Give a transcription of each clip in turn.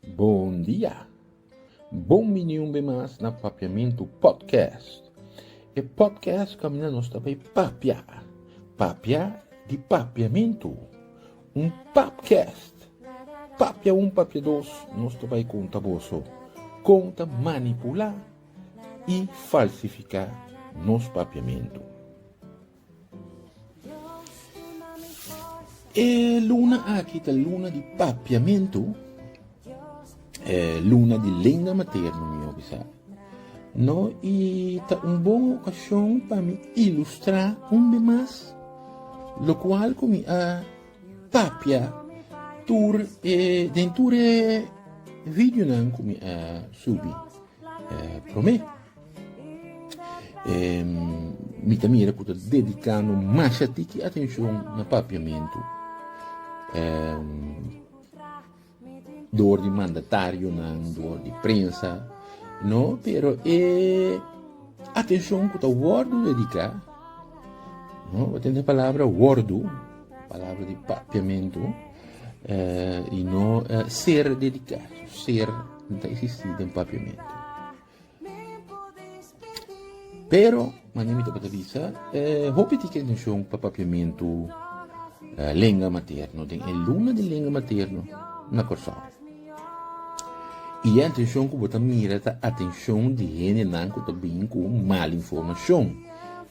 Bon dia! Bon bini un be mas na Papiamentu Podcast. E podcast kaminda nos ta bay papia, papia di papiamentu. Un papcast, papia un papia dos, nos ta bay konta boso kon ta manipula i falsifica nos papiamentu. E luna aki ta luna di papiamentu, e luna di lenga materno, mi hopi sa. No, i ta un bon okashon pa mi ilustrá un be mas lokual ku mi a papia tur e den tur e videonan ku mi a subi promé. E mi ta mira ku ta dedikando masha tiki atenshon na papiamentu. E dor di mandatarionan, dor di prensa, no, pero e atenshon ku ta wòrdu dediká, no, bo tende e palabra wòrdu, palabra di papiamentu, e i no ser dediká, ser no ta eksistí den papiamentu. Pero manera mi tabata bisa, e hopi di ki atenshon pa papiamentu lenga materno den e luna di lenga materno na Kòrsou. I e atenshon ku bo ta mira ta atenshon di hendenan ku ta bin ku mal informashon.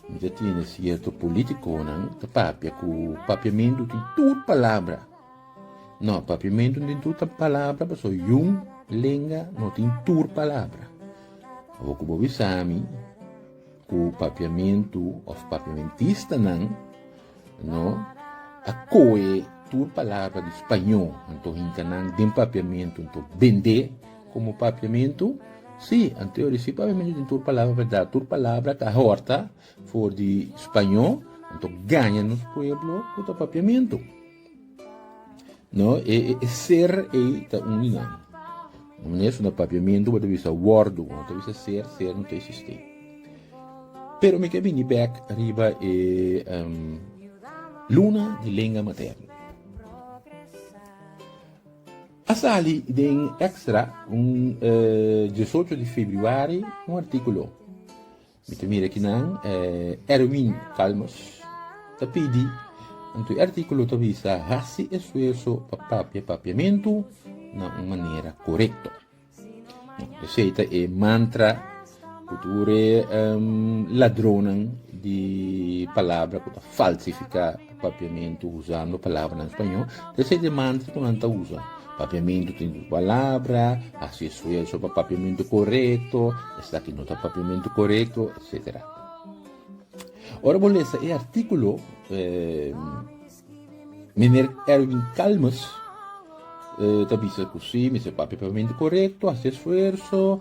Mi ta tene sierto politikonan ta papia ku papiamentu tin tur palabra. No, papiamentu den tur ta palabra, paso yun lenga no tin tur palabra. Abo ku bo bisami ku papiamentu of papiamentistanan no a koe tur palabra di spañó, anto hinka nan den papiamentu, anto bendé komo papiamentu? Sí, anto yo di sí papiamentu tin tur palabra, berdad, tur palabra ka horta for di spañó, anto gaña nos pueblo ku ta papiamentu. No, e, e, e ser ei ta un linan. Maneer na papiamento bota bisa wordo, no ta bisa ser, ser no ta existe. Pero mi ke bini back riba e um, luna di lenga materno. A sali den extra un uh, 18 di februari un artículo Mi ta mira kinan Erwin Calmus ta pidi, anto e artíkulo ta bisa, Hasi esfuerso pa papia papiamentu na un manera korekto. Esei ta e mantra ku tur e ladronnan di palabra ku ta falsifiká Papiamentu usando palabranan spañó ta esei demandas ku nan ta usa. Papiamentu tin dus palabra, hasi esfuerso pa papiamentu korekto, esaki no ta papiamentu korekto, etsetera. Ora bo lesa e artíkulo, Meneer Erwin Calmes ta bisa ku sí, mester papia papiamentu korekto, hasi esfuerso,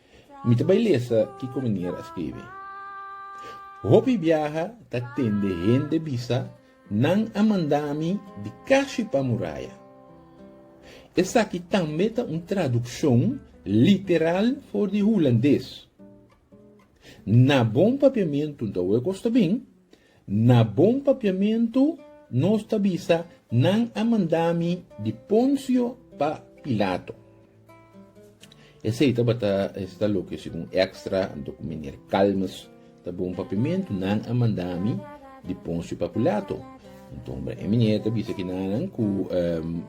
Mi ta bai lesa kiko manera a skirbi. Hopi biaha ta tende hende bisa, Nan a manda mi di kashi pa muraya. Esaki tambe ta un tradukshon literal for di hulandes. Na bon papiamentu nta ue kosta bin, Na bon papiamentu nos ta bisa, Nan a manda mi di Poncio pa Pilato. Esei tabata esta loke segun Extra, anto ku menier Calmes ta bon papiamentu, Nan a manda mi di Poncio pa Pilato. Anto hombre e menier ta bisa ki nanan ku,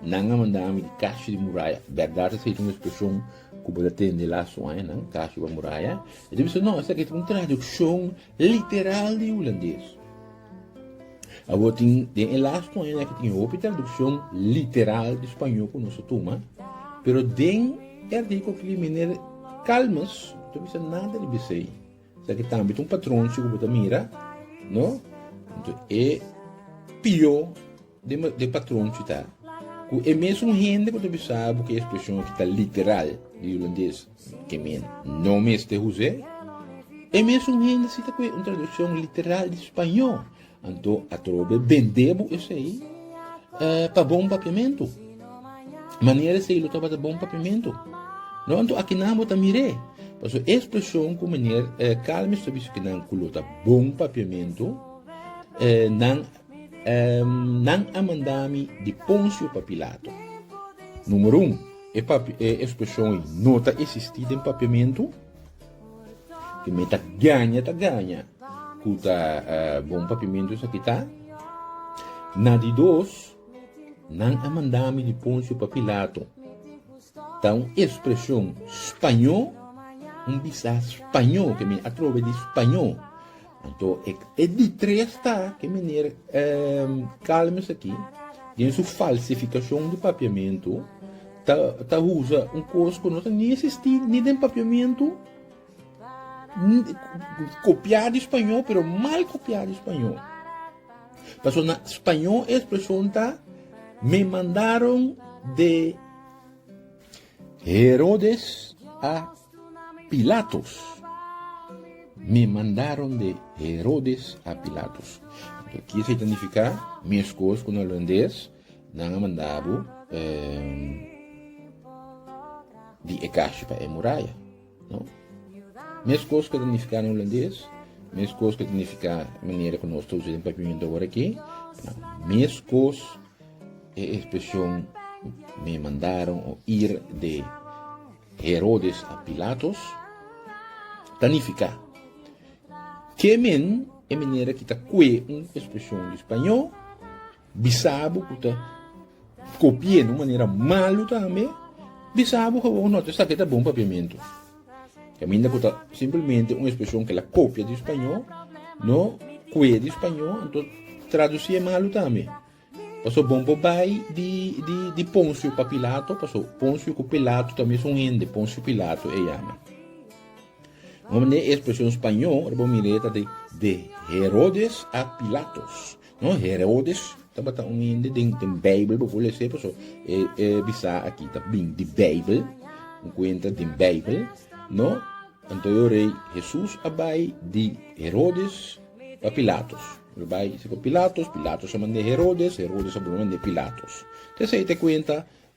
Nan a manda mi di Kashi di Muraya. Bèrdat esei ta un ekspreshon ku bo ta tende lasu añanan, Kashi pa Muraya. E ta bisa, No, esaki ta un tradikshon Literal di Hulandes. Awor tin den e lasto añanan aki tin hopi tradukshon literal di spañó ku nos ta tuma, pero den e artíkulo aki di miner Calmes no ta bisa nada riba esei. Esaki tambe ta un patronchi ku bo ta mira, no? Enton e pió. Dje patron cu ta cu e mesun hende cu ta bisaba cu e expresion aki ta literal di hulandes, ke men no mester huze, e mesun hende si ta cu e un traduccion literal di spaño, anto atrobe bende bo esey pa bon papiamentu. Manera esey lo tabata bon papiamentu. No, anto aki nan bo ta mir'e. Paso e expresion cu meneer Calmes ta bisa cu nan cu lo ta bon papiamentu, nan Nan a manda mi di Ponsio pa Pilato. Numero un, e papia, e ekspreshon ei no ta esistí den papiamentu. Te mi ta gaña, ta gaña ku ta bon papiamentu esaki ta. Na di dos, nan a manda mi di Ponsio pa Pilato, ta un ekspreshon spañó, un bisa spañó, ke mi a trobe di spañó. Anto e di tres ta ke meneer Calmes aki den su falsificacion di papiamento ta usa un cos cu no ta ni existi ni den papiamento copia di spañol pero mal copia di spañol. Paso na spañol e expresion ta me mandaron de Herodes a Pilatus. Mi mandaron de Herodes a Pilatus. Lo ki esei ta nifiká? Meskos ku na Holandes, nan a manda bo di e kashi pa e muraya. No. Meskos ke ta nifiká na hulandes, meskos ke ta nifiká manera ku nos ta usa den papiamento awor aki, no. Meskos e ekspresion me mandaron o ir de Herodes a Pilatos ta nifiká ke men e manera ki ta kue un ekspresion di spañó, Bisabu ku ta kopi'é na un manera malu tambe, bisabu ku awor ku no ta sa ke ta bon papiamentu. Kaminda ku ta simplemente un ekspresion ke la kopia di spañó, no kue di spañó, anto tradusi'é malu tambe. Pasobra bon por bai di Ponsio pa Pilato, pasobra Ponsio ku Pilato ta mes un hende, Ponsio Pilato e yama. Mane e ekspresion spañó, ora bo mir'é, ta di de Herodes a Pilatos. No, Herodes tabata un hende den den Bijbel bo por lese paso e e bisa aki ta bin di Bijbel, un kuenta den Bijbel, no, anto yo rei Hesus a bai di Herodes pa Pilatos, lo bai si pa Pilatos, Pilatos a mande Herodes, Herodes a bolbe mande Pilatos, te esei ta e kuenta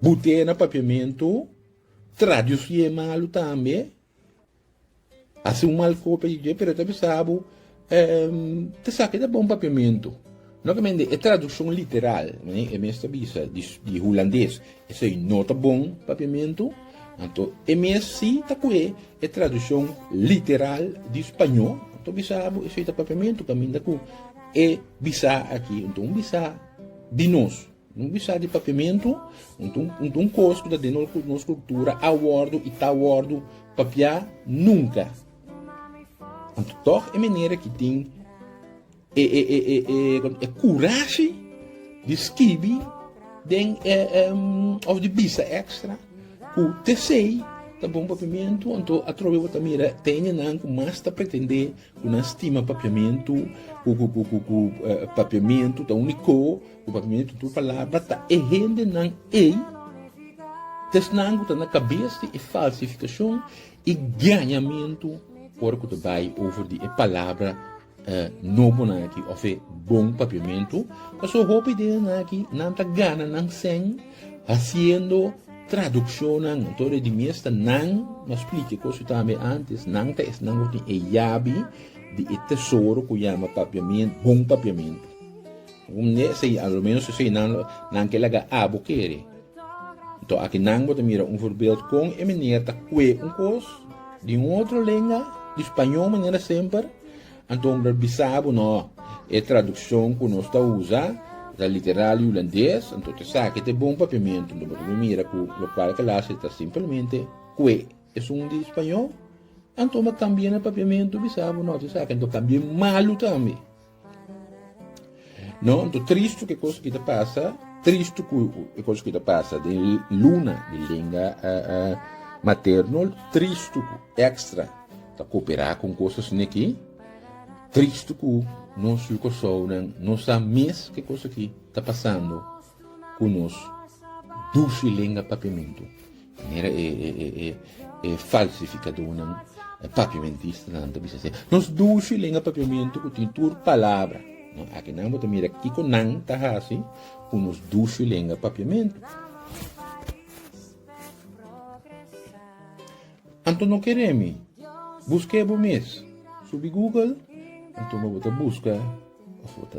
Butea na papiamentu, tra di su ye malu tambe, hasi un mal kopia di dje, pero e ta bisabu, em, ta sa ke ta bon papiamentu. Nokamente, e traduccion literal, manera e mes ta bisa, di, di hulandes, esei no ta bon papiamentu, anto e mes si ta koe e traduccion literal di spañó, ta bisabu esei ta papiamentu, kaminda ku e bisa aki. Enton un bisa di nos. Un bisa di papiamentu no ta un kos ku ta den nos kultura a wòrdu i ta wòrdu papiá nunka. Anto tòg e menera ki tin e kurashi di skibi den òf di bisa èkstra ku tesei ta bon papiamentu anto atrobe bo ta mira ta hende nan ku mas ta pretendé ku nan stima papiamentu ku papiamentu ta un di ko Cu pa mí e tutu palabra ta e hendenan ei, esnan cu ta na cabes di e falsificacion y gañamentu ora cu ta bay over di e palabra nobonan aki of e bon papiamentu. Pasobra hopi den esnan aki nan ta gana nan sèn haciendo traduccionnan en todo e di miesta nan, nos splica e cos cu tambe antes, nan ta esnan cu tin e yabi di e tesoro cu yama papiamentu, bon papiamentu. Un di esei, a lo menos esei nan lo, nan ke laga abo kere. Nto aki nan bo ta mira un voorbeeld kon e meneer ta kue un kos di un otro lenga, di spañó manera semper, anto mi por bisa bo no, e tradukshon ku nos ta usa ta literal hulandes, anto ta esaki ta e bon papiamentu, anto bo ta por mira ku lokual klase ta simpelmente kue esun di spañó, anto mi a kambia na papiamentu bisa bo no, ta esaki, anto kambia malu tambe. No, anto tristu ku e kos ku ta pasa, tristu ku e kos ku ta pasa den luna di lenga materno, tristu ku Extra ta koperá ku kosasnan aki, tristu ku nos Yu Kòrsounan no sa mes ku e kos aki ta pasando. ku nos dushi lenga papiamentu, manera e, e, e, e, e falsifikadunan, e papiamentistanan ta bisa así. Nos dushi lenga papiamentu ku tin tur palabra. No, aki nan bo ta mira kiko nan ta hasi ku nos dushi lenga papiamentu. Anto no kere mi, busk'e bo mes. Subi Google, anto bo ta buska of bo ta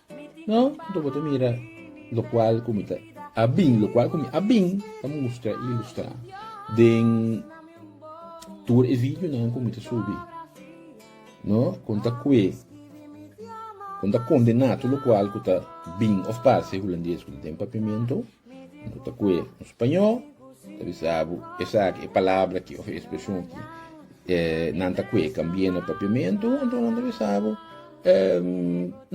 No, anto bo ta mira lokual ku mi ta a bin, lokual ku mi a bin ta mustra i ilustrá den tur e videonan ku mi ta subi. No, kon ta kue, kon ta kondená tur lokual ku ta bin òf pase, hulandes ku ta den papiamentu. Ta kue un spañó, ta bisa bo esaki, e palabra aki of e espresion aki, nan ta kue kambie na papiamentu, enton nan ta bisa bo,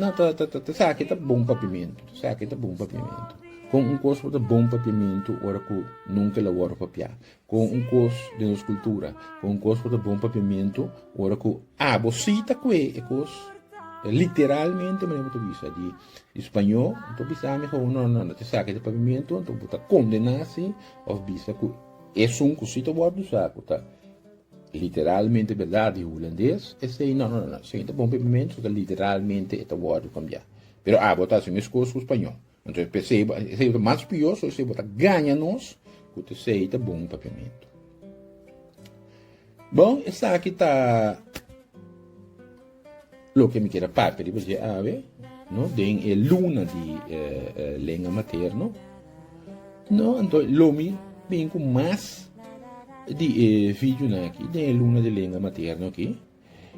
nan ta, ta, ta, esaki ta bon papiamentu, esaki ta bon papiamentu. Kon un kos por ta bon papiamentu ora ku nunke la wòrdu papiá? Con un cos den nos cultura, con un cos cu ta bon pa piamento, ora cu abo si ta cue e cos, literalmente manera bo ta bisa di Spañó, bo bisa ami gou no, no, no ta esaki ta papiamento, enton bo ta condena si, of bisa cu esun cu si ta word usa, cu ta literalmente berdad di Hulandes, esey no, no, no, no, si ta bon pa piamento, literalmente e ta word cambia. Pero abo ta hasi mes cos cu Spañó. Entonces, pe ceiba, e ceiba ta mas pior, so e ceiba ta gaña nos, cu te sei ta bon papiamento. Bon, esa aquí ta lo que me quiera parte de você ave, no? Den e luna de eh, eh, lengua materno, no? Entonces, lo mi bin con más de eh, video na aquí, den e luna de lengua materno aquí.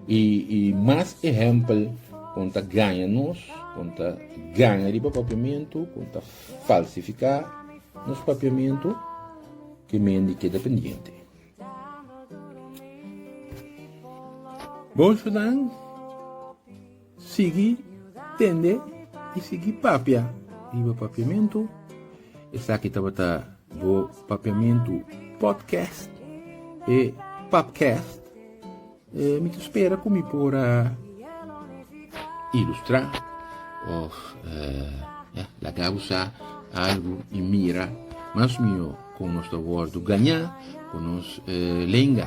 I i mas ehèmpel kon ta gaña nos, kon ta gaña riba papiamentu, kon ta falsifiká nos papiamentu, ke men di keda pendiente. Bon ciudanan. Sigui tende i sigui papia riba Papiamentu. Esaki tabata bo Papiamentu Podcast, e Papcast. E mi ta spera ku mi por a ilustrá òf ya laga bo sa algu i mira mas mihó kon nos ta wòrdu gañá ku nos lenga.